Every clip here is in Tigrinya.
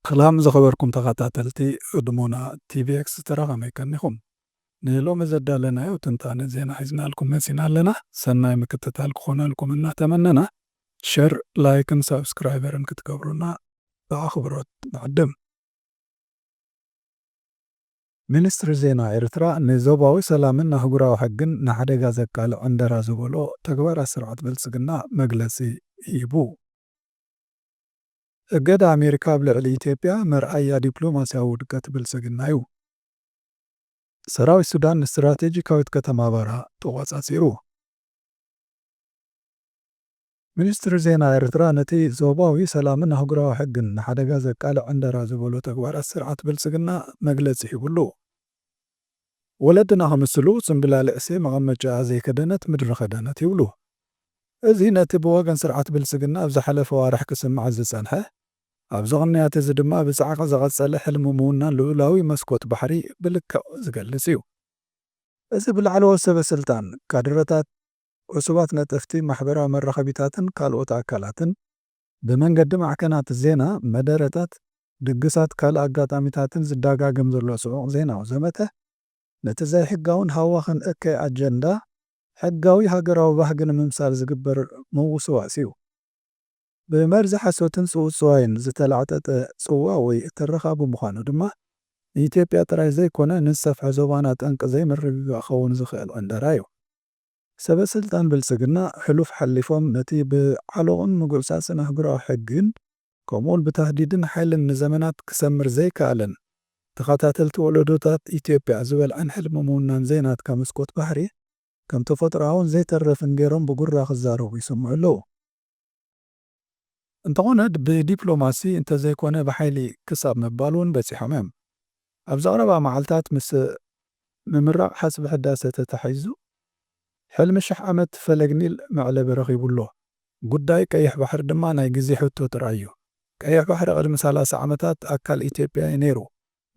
ሰላም ዝኸበርኩም ተኻታተልቲ ህድሞና ቲቪ ኤክስትራ ከመይ ከኒኹም ንሎሚ ዘዳለናዮ ትንታነ ዜና ሒዝናልኩም መጺና ኣለና ሰናይ ምክትታል ክኾነልኩም እናተመነና ሸር ላይክን ሳብስክራይበርን ክትገብሩና ብኣኽብሮት ንዕድም። ሚኒስትሪ ዜና ኤርትራ ንዞባዊ ሰላምን ኣህጉራዊ ሕግን ንሓደጋ ዘቃልዕ ዕንደራ ዝበሎ ተግባራት ስርዓት ብልጽግና መግለጺ ሂቡ። እገዳ ኣሜሪካ ኣብ ልዕሊ ኢትዮጵያ መርኣያ ዲፕሎማስያዊ ውድቀት ብልጽግና'ዩ። ሰራዊት ሱዳን ንስትራቴጂካዊት ከተማ በራ ተቖጻጺሩ። ሚኒስትሪ ዜና ኤርትራ ነቲ ዞባዊ ሰላምን ኣህጉራዊ ሕግን ንሓደጋ ዘቃልዕ ዕንደራ ዝበሎ ተግባራት ስርዓት ብልጽግና መግለጺ ሂቡሉ። ወለድና ክምስሉ ጽምብላሊዕሲ መቐመጭኣ ዘይከደነት ምድሪ ከደነት ይብሉ። እዚ ነቲ ብወገን ስርዓት ብልጽግና ኣብ ዝሓለፈ ኣዋርሕ ክስማዕ ዝጸንሐ፣ ኣብዚ ቅንያት እዚ ድማ ብጻዕቒ ዝቐጸለ ሕልሚ ምውናን ልኡላዊ መስኮት ባሕሪ ብልክዕ ዝገልጽ እዩ። እዚ ብላዕለዎት ሰበስልጣን፣ ካድረታት፣ ዕሱባት ነጠፍቲ፣ ማሕበራዊ መራኸቢታትን ካልኦት ኣካላትን፣ ብመንገዲ ማዕከናት ዜና፣ መደረታት፣ ድግሳት ካልእ ኣጋጣሚታትን ዝዳጋገም ዘሎ ጽዑቕ ዜናዊ ዘመተ፣ ነቲ ዘይሕጋውን ሃዋኽን እከይ ኣጀንዳ ሕጋዊ ሃገራዊ ባህጊ ንምምሳል ዝግበር ምውስዋስ'ዩ። ብመርዚ ሓሶትን ጽውጽዋይን ዝተላዕጠጠ ጽዋ ወይ ትረኻ ብምዃኑ ድማ፣ ንኢትዮጵያ ጥራይ ዘይኮነ ንዝሰፍሐ ዞባና ጠንቂ ዘይምርግጋእ ክኸውን ዝኽእል ዕንደራ'ዩ። ሰበስልጣን ብልፅግና ሕሉፍ ሓሊፎም ነቲ ብዓሎቕን ምጉዕፃፅን ኣህጉራዊ ሕጊን ከምኡውን ብታህዲድን ሓይልን ንዘመናት ክሰምር ዘይከኣለን ተኸታተልቲ ወለዶታት ኢትዮጵያ ዝበልዐን ሕልሚ ምውናን ዘይናትካ መስኮት ባሕሪ ከም ተፈጥሮኣውን ዘይተርፍን ገይሮም ብጉራ ክዛረቡ ይስምዑ ኣለዉ። እንተኾነ ብዲፕሎማሲ እንተዘይኮነ ብሓይሊ ክሳብ ምባል ውን በጺሖም እዮም። ኣብዚ ቀረባ መዓልታት ምስ ምምራቕ ሓጽቢ ሕዳሰ ተታሒዙ ሕልሚ ሽሕ ዓመት ፈለግ ኒል መዕለቢ ረኺቡ ኣሎ። ጉዳይ ቀይሕ ባሕሪ ድማ ናይ ግዜ ሕቶ ጥራይ እዩ። ቀይሕ ባሕሪ ቅድሚ ሰላሳ ዓመታት ኣካል ኢትዮጵያ እዩ ነይሩ።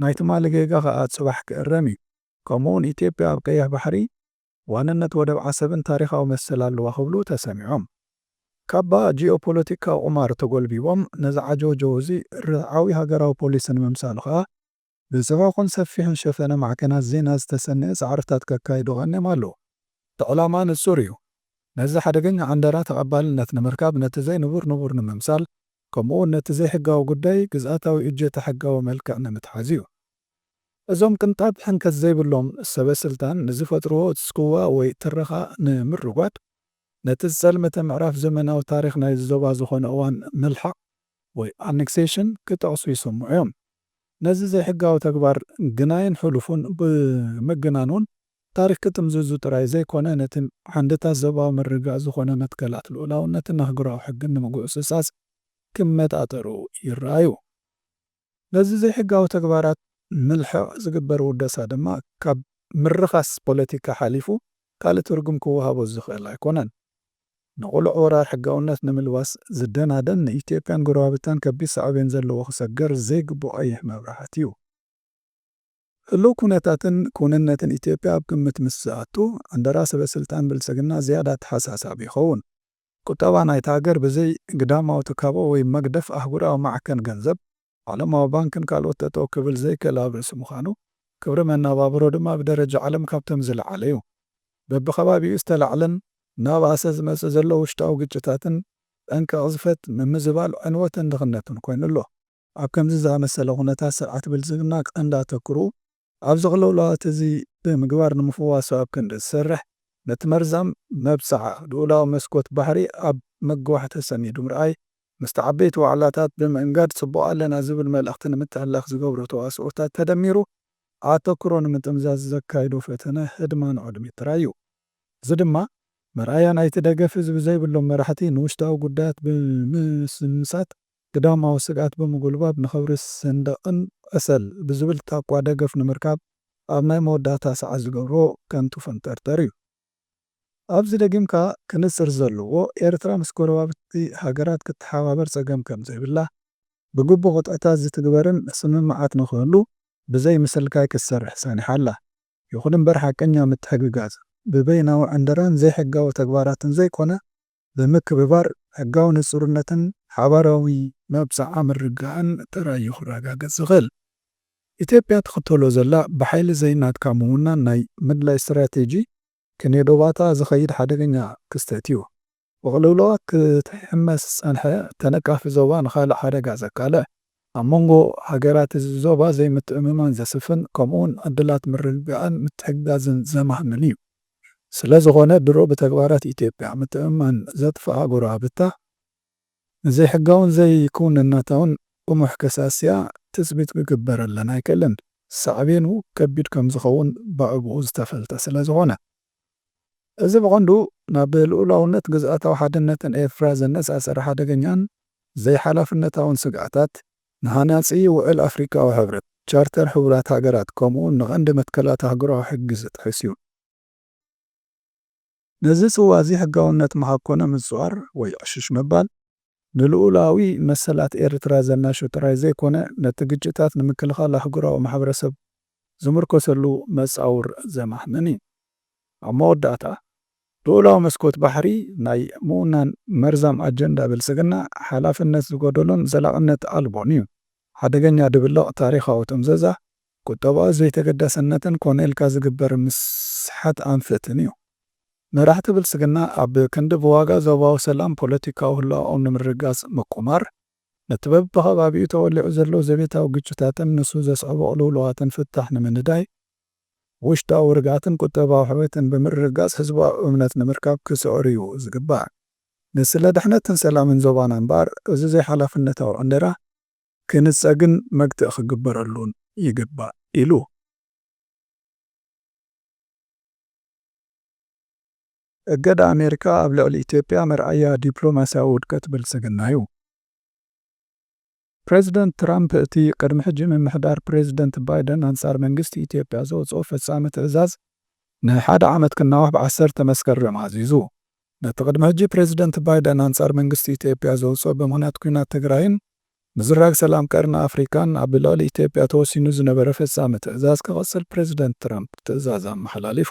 ናይ ትማሊ ጌጋ ከኣ ጽባሕ ክእረም እዩ። ከምኡ'ውን ኢትዮጵያ ኣብ ቀይሕ ባሕሪ ዋንነት ወደብ ዓሰብን ታሪኻዊ መሰል ኣለዋ ክብሉ ተሰሚዖም። ካባ ጂኦፖለቲካዊ ቁማር ተጎልቢቦም ነዚ ዓጀውጀው እዚ ርትዓዊ ሃገራዊ ፖሊሲ ንምምሳሉ ከኣ ብጽዑቕን ሰፊሕን ሸፈነ ማዕከናት ዜና ዝተሰነየ ጻዕርታት ከካይዱ ቀንዮም ኣለዉ። እቲ ዕላማ ንጹር እዩ። ነዚ ሓደገኛ ዕንደራ ተቐባልነት ንምርካብ ነቲ ዘይንቡር ንቡር ንምምሳል ከምኡ'ውን ነቲ ዘይሕጋዊ ጉዳይ ግዝኣታዊ እጀታ ሕጋዊ መልክዕ ንምትሓዝ እዩ። እዞም ቅንጣብ ሕንከት ዘይብሎም ሰበ ስልጣን ንዝፈጥርዎ ጽልዋ ወይ ትረኻ ንምርጓድ፣ ነቲ ዝጸልመተ ምዕራፍ ዘመናዊ ታሪኽ ናይዚ ዞባ ዝኾነ እዋን ምልሓቕ ወይ Annexation ክጠቕሱ ይሰምዑ እዮም። ነዚ ዘይሕጋዊ ተግባር ግናይን ሕሉፉን ብምግናን'ውን ታሪኽ ክጥምዝዙ ጥራይ ዘይኮነ ነቲ ዓንድታት ዞባዊ ምርግጋእ ዝኾነ መትከላት ልኡላውነትን ኣህጉራዊ ሕግን ንምጉዕጽጻጽ ክመጣጠሩ ይረኣዩ። ነዚ ዘይሕጋዊ ተግባራት ምልሕቕ ዝግበር ውደሳ ድማ ካብ ምርኻስ ፖለቲካ ሓሊፉ ካልእ ትርጉም ክወሃቦ ዝኽእል ኣይኮነን። ንቕሉዕ ወራር ሕጋውነት ንምልባስ ዝደናደን ንኢትዮጵያን ጎረባብታን ከቢድ ሳዕቤን ዘለዎ ክሰገር ዘይግብኦ ቀይሕ መብራህቲ'ዩ። ህሉው ኩነታትን ክውንነትን ኢትዮጵያ ኣብ ግምት ምስ ዝኣቱ ዕንደራ ሰበስልጣን ብልፅግና ዝያዳ ኣተሓሳሳቢ ይኸውን። ቁጠባ ናይታ ሃገር ብዘይ ግዳማዊ ትካቦ ወይ መግደፍ ኣህጉራዊ ማዕከን ገንዘብ፣ ዓለማዊ ባንክን ካልኦት ጠጠው ክብል ዘይክእል ኣብ ርእሲ ምዃኑ፣ ክብሪ መነባብሮ ድማ ብደረጃ ዓለም ካብቶም ዝለዓለ እዩ። በቢከባቢኡ ዝተላዕለን እናበኣሰ ዝመፅእ ዘሎ ውሽጣዊ ግጭታትን ጠንቂ ቅዝፈት፣ ምምዝባል ዕንወትን ድኽነትን ኮይኑ ኣሎ። ኣብ ከምዚ ዝኣመሰለ ኩነታት ስርዓት ብልፅግና ቀንዲ ኣተኩርኡ ኣብ ዘቕለሎ ኣቲዚ ብምግባር ንምፍዋሱ ኣብ ክንዲ ዝሰርሕ ነቲ መርዛም መብፅዓ ልኡላዊ መስኮት ባሕሪ ኣብ ምግዋሕ ተፀሚዱ ምርኣይ ምስቲ ዓበይቲ ዋዕላታት ብምእንጋድ ፅቡቕ ኣለና ዝብል መልእኽቲ ንምትሕልላኽ ዝገብሮ ተዋስኦታት ተደሚሩ ኣተኩሮ ንምጥምዛዝ ዘካይዶ ፈተነ ህድማን ዖድሚት ጥራይ እዩ። እዚ ድማ መርኣያ ናይቲ ደገፍ ህዝቢ ዘይብሎም መራሕቲ ንውሽጣዊ ጉዳያት ብምስምሳት ግዳማዊ ስግኣት ብምጉልባብ ንኽብሪ ሰንደቕን ዕሰል ብዝብል ታኳ ደገፍ ንምርካብ ኣብ ናይ መወዳእታ ሰዓት ዝገብርዎ ከንቱ ፈንጠርጠር እዩ። ኣብዚ ደጊምካ ክንጽር ዘለዎ፣ ኤርትራ ምስ ጎረባብቲ ሃገራት ክትተሓባበር ጸገም ከም ዘይብላ፣ ብግቡእ ቅጥዕታት ዝትግበርን ስምምዓት ንኽህሉ ብዘይ ምስልካይ ክትሰርሕ ጸኒሓ ኣላ፣ ይኹን እምበር ሓቀኛ ምትሕግጋዝ ብበይናዊ ዕንደራን ዘይሕጋዊ ተግባራትን ዘይኮነ ብምክብባር ሕጋዊ ንጹርነትን ሓባራዊ መብጽዓ ምርግጋእን ጥራይ እዩ ክረጋገጽ ዝኽእል። ኢትዮጵያ ትኽተሎ ዘላ ብሓይሊ ዘይናትካ ምውናን ናይ ምድላይ ስትራቴጂ ክንዮ ዶባታ ዝኸይድ ሓደገኛ ክስተት እዩ። ብቕልውላዋት ክትሕመስ ዝጸንሐ ተነቃፊ ዞባ ንኻልእ ሓደጋ ዘቃልዕ ኣብ መንጎ ሃገራት እዚ ዞባ ዘይምትእምማን ዘስፍን ከምኡውን ዕድላት ምርግጋእን ምትሕግጋዝን ዘማህምን እዩ። ስለዝኾነ ድሮ ብተግባራት ኢትዮጵያ ምትእምማን ዘጥፍኣ ጎረባብታ ንዘይሕጋውን ዘይክውንነታውን ጥሙሕ ከሳስያ ትፅቢት ክግበረለን ኣይክእልን። ሳዕቤኑ ከቢድ ከምዝኸውን ብኣግኡ ዝተፈልጠ ስለዝኾነ። እዚ ብቐንዱ ናብ ልኡላውነት ግዝኣታዊ ሓድነትን ኤርትራ ዘነጻጸረ ሓደገኛን ዘይሓላፍነታውን ስግኣታት፣ ንሃናጺ ውዕል ኣፍሪቃዊ ሕብረት፣ ቻርተር ሕቡራት ሃገራት፣ ከምኡ'ውን ንቐንዲ መትከላት ኣህጉራዊ ሕጊ ዝጥሕስ እዩ። ነዚ ጽዋ'ዚ ሕጋውነት መሃብ ኮነ ምጽዋር ወይ ዕሽሽ ምባል፣ ንልኡላዊ መሰላት ኤርትራ ዘናሹ ጥራይ ዘይኮነ፣ ነቲ ግጭታት ንምክልኻል ኣህጉራዊ ማሕበረሰብ ዝምርኮሰሉ መጻውር ዘማህምን እዩ። ኣብ መወዳእታ፣ ልኡላዊ መስኮት ባሕሪ ናይ ምውናን መርዛም ኣጀንዳ ብልጽግና ሓላፍነት ዝጎደሎን ዘላቕነት ኣልቦን እዩ። ሓደገኛ ድብልቕ ታሪኻዊ ጥምዘዛ ቁጠባዊ ዘይተገዳስነትን ኮነ ኢልካ ዝግበር ምስሓት ኣንፈትን እዩ። መራሕቲ ብልጽግና ኣብ ክንዲ ብዋጋ ዞባዊ ሰላም ፖለቲካዊ ህላወኦም ንምርግጋጽ ምቁማር፣ ነቲ በብኸባቢኡ ተወሊዑ ዘሎ ዘቤታዊ ግጭታትን ንሱ ዘስዕቦ ቅልውላዋትን ፍታሕ ንምንዳይ፣ ውሽጣዊ ርግኣትን ቁጠባዊ ሕውየትን ብምርግጋጽ ህዝባዊ እምነት ንምርካብ ክጽዕሩ እዩ ዝግባእ። ንስለ ድሕነትን ሰላምን ዞባና እምበኣር እዚ ዘይሓላፍነታዊ ዕንደራ፣ ክንጸግን መግትኢ ክግበረሉን ይግባእ ኢሉ። እገዳ ኣሜሪካ ኣብ ልዕሊ ኢትዮጵያ መርኣያ ዲፕሎማስያዊ ውድቀት ብልጽግና'ዩ። ፕረዚደንት ትራምፕ እቲ ቅድሚ ሕጂ ምምሕዳር ፕረዚደንት ባይደን ኣንጻር መንግስቲ ኢትዮጵያ ዘውጽኦ ፈጻሚ ትእዛዝ ንሓደ ዓመት ክናዋሕ ብ ዓሰርተ መስከረም ኣዚዙ። ነቲ ቅድሚ ሕጂ ፕረዚደንት ባይደን ኣንጻር መንግስቲ ኢትዮጵያ ዘውጽኦ ብምኽንያት ኲናት ትግራይን ምዝራግ ሰላም ቀርኒ ኣፍሪቃን ኣብ ልዕሊ ኢትዮጵያ ተወሲኑ ዝነበረ ፈጻሚ ትእዛዝ ክቕጽል ፕረዚደንት ትራምፕ ትእዛዝ ኣመሓላሊፉ።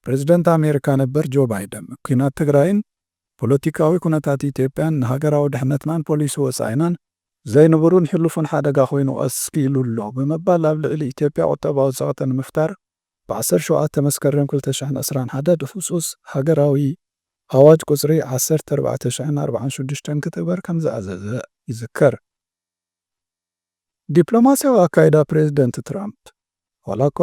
ፕረዚደንት ኣሜሪካ ነበር ጆ ባይደን፣ ኲናት ትግራይን ፖለቲካዊ ኩነታት ኢትዮጵያን ንሃገራዊ ድሕነትናን ፖሊሲ ወጻኢናን ዘይንቡርን ሕሉፍን ሓደጋ ኮይኑ ቀሲሉ ኣሎ ብምባል ኣብ ልዕሊ ኢትዮጵያ ቁጠባዊ ጸቕጢ ንምፍጣር ብ ዓሰርተ ሸውዓተ መስከረም ክልተ ሽሕን ዕስራን ሓደን ብህጹጽ ሃገራዊ ኣዋጅ ቁጽሪ ዓሰርተ ኣርባዕተ ሽሕን ኣርብዓን ሽዱሽተን ክትግበር ከም ዝኣዘዘ ይዝከር። ዲፕሎማስያዊ ኣካይዳ ፕረዚደንት ትራምፕ፣ ዋላኳ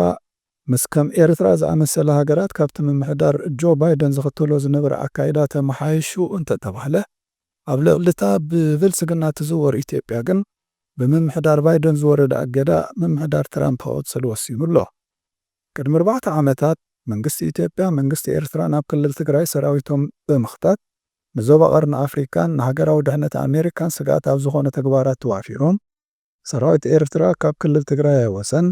ምስ ከም ኤርትራ ዝኣመሰላ ሃገራት ካብቲ ምምሕዳር ጆ ባይደን ዝኽተሎ ዝነበረ ኣካይዳ ተመሓይሹ እንተተባህለ፣ ኣብ ልዕሊ'ታ ብብልጽግና ትዝወር ኢትዮጵያ ግን ብምምሕዳር ባይደን ዝወረደ ኣገዳ ምምሕዳር ትራምፕ ክቕጽል ወሲኑ ኣሎ። ቅድሚ ኣርባዕተ ዓመታት መንግስቲ ኢትዮጵያ መንግስቲ ኤርትራ ናብ ክልል ትግራይ ሰራዊቶም ብምኽታት ንዞባ ቀርኒ ኣፍሪካን ንሃገራዊ ድሕነት ኣሜሪካን ስግኣት ኣብ ዝኾኑ ተግባራት ተዋፊሮም ሰራዊት ኤርትራ ካብ ክልል ትግራይ ኣይወጸን፣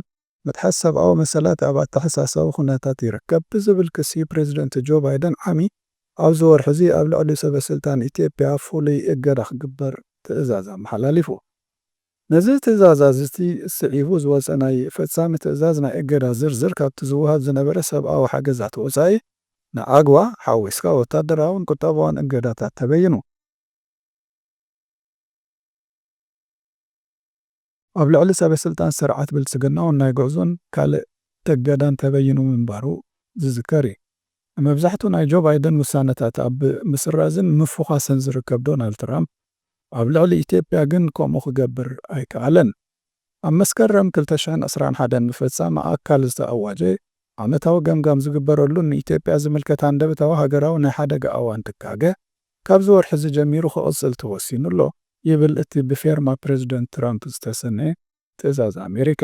ምጥሓስ ሰብኣዊ መሰላት ኣብ ኣተሓሳሳቢ ኩነታት ይርከብ ብዝብል ክሲ ፕረዚደንት ጆ ባይደን ዓሚ ኣብዚ ወርሒ'ዚ ኣብ ልዕሊ ሰበስልጣን ኢትዮጵያ ፍሉይ እገዳ ክግበር ትእዛዝ ኣመሓላሊፉ። ነዚ ትእዛዝ'ዚ ስዒቡ ዝወጸ ናይ ፈጻሚ ትእዛዝ ናይ እገዳ ዝርዝር ካብቲ ዝወሃብ ዝነበረ ሰብኣዊ ሓገዛት ወጻኢ ንኣግዋ ሓዊስካ ወታደራውን ቁጠባውን እገዳታት ተበይኑ። ኣብ ልዕሊ ሰበስልጣን ስርዓት ብልፅግና እውን ናይ ጉዕዞን ካልእ እገዳን ተበይኑ ምንባሩ ዝዝከር እዩ። ንመብዛሕትኡ ናይ ጆ ባይደን ውሳነታት ኣብ ምስራዝን ምፍዃስን ዝርከብ ዶናልድ ትራምፕ ኣብ ልዕሊ ኢትዮጵያ ግን ከምኡ ክገብር ኣይከኣለን። ኣብ መስከረም ክልተ ሽሕን ዕስራን ሓደን ምፈፃም ኣካል ዝተኣዋጀ ዓመታዊ ገምጋም ዝግበረሉን ንኢትዮጵያ ዝምልከት ሃንደበታዊ ሃገራዊ ናይ ሓደጋ ኣዋን ድጋገ ካብዚ ወርሒ'ዚ ጀሚሩ ክቕጽል ተወሲኑ'ሎ ይብል እቲ ብፌርማ ፕረዚደንት ትራምፕ ዝተሰነየ ትእዛዝ ኣሜሪካ።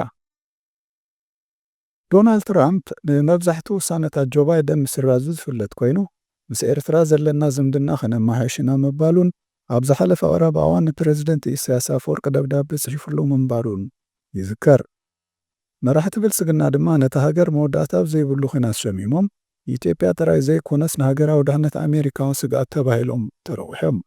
ዶናልድ ትራምፕ ንመብዛሕትኡ ውሳነታት ጆ ባይደን ምስራዙ ዝፍለጥ ኮይኑ፣ ምስ ኤርትራ ዘለና ዝምድና ከነመሓይሽ ኢና ምባሉን ኣብ ዝሓለፈ ቀረባ እዋን ንፕረዚደንት ኢሳይያስ ኣፈወርቂ ደብዳበ ጽሒፍሉ ምንባሩን ይዝከር። መራሕቲ ብልፅግና ድማ ነታ ሃገር መወዳእታ ኣብ ዘይብሉ ኹናት ሸሚሞም ንኢትዮጵያ ጥራይ ዘይኮነስ ንሃገራዊ ድሕነት ኣሜሪካ ውን ስግኣት ተባሂሎም ተረዊሖም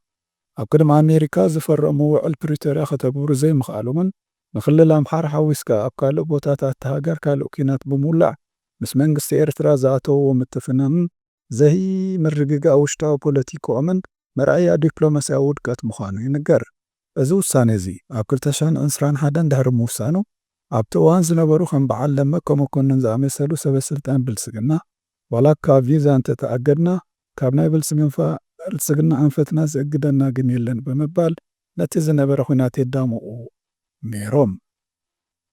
ኣብ ቅድሚ ኣሜሪካ ዝፈረምዎ ውዕል ፕሪቶርያ ከተግብሩ ዘይምኽኣሎምን ንክልል ኣምሓራ ሓዊስካ ኣብ ካልእ ቦታታት'ታ ሃገር ካልእ ኲናት ብምውላዕ ምስ መንግስቲ ኤርትራ ዝኣተውዎ ምትፍናንን ዘይምርግጋእ ውሽጣዊ ፖለቲክኦምን መርኣያ ዲፕሎማስያዊ ውድቀት ምዃኑ ይንገር። እዚ ውሳኔ'ዚ ኣብ ክልተ ሽሕን ዕስራን ሓደን ድሕሪ ምውሳኑ፣ ኣብቲ እዋን ዝነበሩ ከም በዓል ደመቀ መኮንን ዝኣመሰሉ ሰበስልጣን ብልጽግና፣ ዋላ እካ ቪዛ እንተ ተኣገድና፣ ካብ ናይ ብልጽግና ኣንፈትና ዝእግደና ግን የለን ብምባል ነቲ ዝነበረ ኵናት የዳምቑ ነይሮም።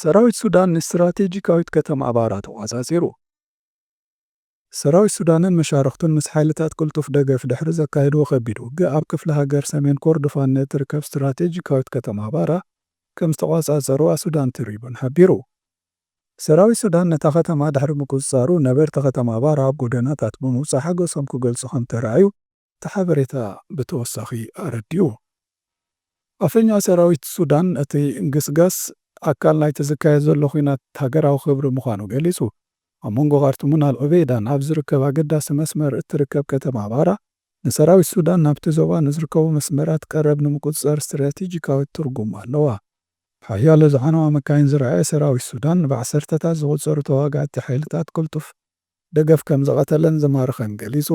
ሰራዊት ሱዳን ንስትራቴጂካዊት ከተማ ባራ ተቖጻጺሩ። ሰራዊት ሱዳንን መሻርኽቱን ምስ ሓይልታት ቅልጡፍ ደገፍ ድሕሪ ዘካየድዎ ከቢድ ውግእ ኣብ ክፍለ ሃገር ሰሜን ኮርዶፋን ንእትርከብ ስትራቴጂካዊት ከተማ ባራ ከም ዝተቖጻጸሩዋ ሱዳን ትሪቡን ሓቢሩ። ሰራዊት ሱዳን ነታ ከተማ ድሕሪ ምቁጽጻሩ ነበርቲ ከተማ ባራ ኣብ ጎደናታት ብምውጻእ ሓጎሶም ክገልጹ ከም ተራእዩ እቲ ሓበሬታ ብተወሳኺ ኣረዲኡ። ኣፈኛ ሰራዊት ሱዳን እቲ ግስጋስ ኣካል ናይቲ ዝካየድ ዘሎ ኲናት ሃገራዊ ክብሪ ምዃኑ ገሊጹ። ኣብ መንጎ ኻርቱምን ኣል ዑበይዳን ኣብ ዝርከብ ኣገዳሲ መስመር እትርከብ ከተማ ባራ፣ ንሰራዊት ሱዳን ናብቲ ዞባ ንዝርከቡ መስመራት ቀረብ ንምቁጽጻር ስትራቴጂካዊት ትርጉም ኣለዋ። ብሓያሎ ዝዓነዋ መካይን ዝረኣየ ሰራዊት ሱዳን፣ ብዓሰርተታት ዝቑጸሩ ተዋጋእቲ ሓይልታት ቅልጡፍ ደገፍ ከም ዝቐተለን ዝማረኸን ገሊጹ።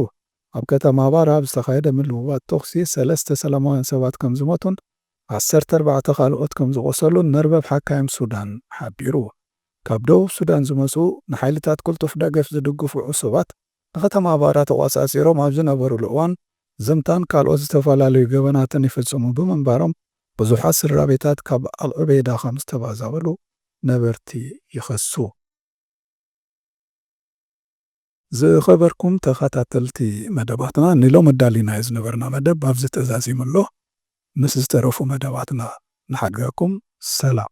ኣብ ከተማ ባራ ኣብ ዝተኻየደ ምልውዋጥ ተኹሲ ሰለስተ ሰላማውያን ሰባት ከም ዝሞቱን ዓሰርተ ኣርባዕተ ካልኦት ከም ዝቖሰሉን መርበብ ሓካይም ሱዳን ሓቢሩ። ካብ ደቡብ ሱዳን ዝመጽኡ ንሓይልታት ቅልጡፍ ደገፍ ዝድግፉ ዕሱባት ንከተማ ባራ ተቖጻጺሮም ኣብ ዝነበሩሉ እዋን ዘምታን ካልኦት ዝተፈላለዩ ገበናትን ይፍጽሙ ብምንባሮም ብዙሓት ስድራቤታት ካብ ኣልዑበይዳ ከም ዝተባዛበሉ ነበርቲ ይኸሱ። ዝኸበርኩም ተኸታተልቲ መደባትና ንሎሚ ኣዳሊናዮ ዝነበርና መደብ ኣብዚ ተዛዚሙ ኣሎ። ምስ ዝተረፉ መደባትና ንሓድገኩም። ሰላም።